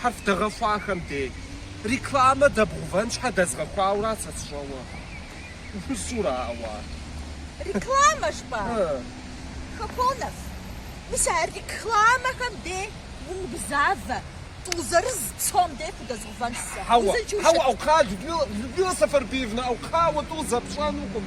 Хьэрф дэгъэхуахэм дей рекламэ дэбгъувэн щхьэ дэзгъэхуауэра сэ сщӏэуэ? Усура ауэ? Рекламэ жыпӏа? Хаконов, мис а рекламэхэм дей умыгузавэ, тӏурытӏу сом дей худэзгъувэнщ сэ. Хьэуэ, хьэуэ, Аукхъа, Людмила, Людмила Сэфэрбиевна, Аукхъа, уэ тӏу зэи пщӏэнукъым.